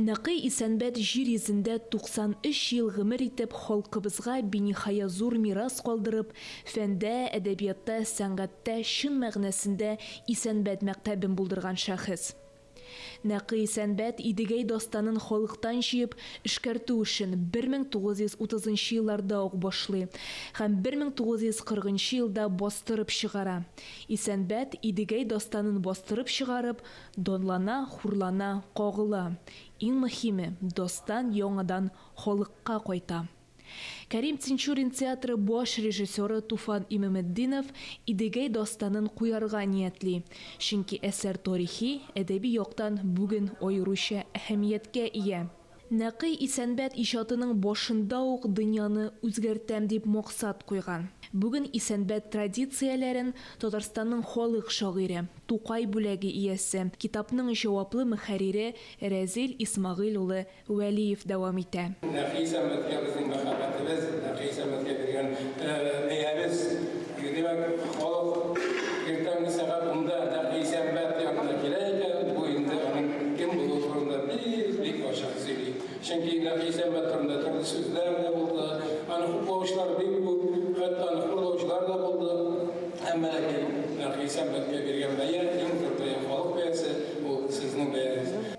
Нәкый Исәнбәт җир йөзендә 93 ел гомер итеп, халкыбызга биниһая зур мирас калдырып, фәндә, әдәбиятта, сәнгатьтә чын мәгънәсендә Исәнбәт мәктәбен булдырган шәхес. Нәкый Исәнбәт Идегәй дастанын халыктан җыеп, эшкәртү эшен 1930 нчы елларда ук башлый һәм 1940 нчы елда бастырып чыгара. Исәнбәт Идегәй дастанын бастырып чыгарып, Данлана, хурлана, кагыла. Иң мөхиме, дастан яңадан халыкка кайта. Кәрим Тинчурин театры баш режиссеры Туфан Имаметдинов Идегәй дастанын куярга ниятли, чөнки әсәр тарихи, әдәби яктан бүген аеруча әһәмияткә ия. Нәкый Исәнбәт иҗатының башында ук дөньяны үзгәртәм дип максат куйган. Бүген Исәнбәт традицияләрен Татарстанның халык шагыйре, Тукай бүләге иясе, китапның җаваплы мөхәррире Рәзил Исмәгыйль улы Вәлиев дәвам итә. Нәкый Исәнбәткә безнең мәхәббәтебез, Нәкый Исәнбәткә биргән бәябез. Димәк, халык иртәнге сәгать унда нәкъ Исәнбәт янына килә икән, бу инде аның кем булуы турында бик-бик ачык сөйли. Чөнки нәкъ Исәнбәт турында төрле сүзләр дә булды, аны хуплаучылар бик күп, хәтта аны хурлаучылар да булды. Әмма ләкин нәкъ Исәнбәткә биргән бәя, иң зур бәя, халык бәясе, ул сезнең бәягез.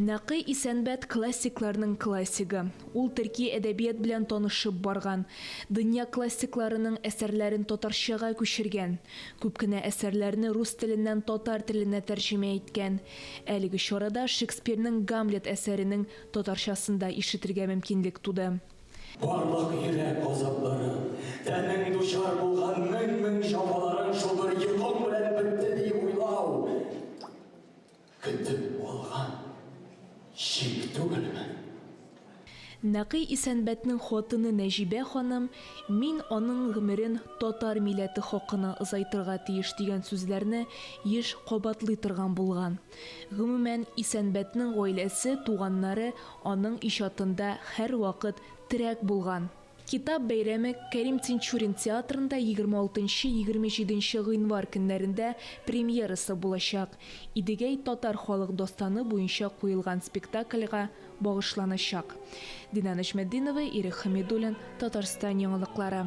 Нәкый Исәнбәт классикларның классигы. Ул төрки әдәбият белән танышып барган, дөнья классикларының әсәрләрен татарчага күчергән, күп кенә әсәрләрне рус теленнән татар теленә тәрҗемә иткән. Әлеге чарада Шекспирның Гамлет әсәренең татарчасын да ишетергә мөмкинлек туды. Барлык йөрәк газапларың, тәнең дучар булган мең-мең җәфаларың шулбер йокың белән бетте, ди уйлау. Көтеп алган чик түгелме? Нәкый Исәнбәтнең хатыны Нәҗибә ханым, Мин аның гомерен татар милләте хакына озайтырга тиеш дигән сүзләрне еш кабатлый торган булган. Гомумән, Исәнбәтнең гаиләсе, туганнары аның иҗатында һәрвакыт терәк булган. Китап бәйрәме Кәрим Тинчурин театрында егерме алтынчы-егерме җиденче гыйнвар көннәрендә премьерасы булачак. Идегәй татар халык дастаны буенча куелган спектакльга багышланачак. Динә Нәҗметдинова, Ирек Хәмидуллин, Татарстан яңалыклары.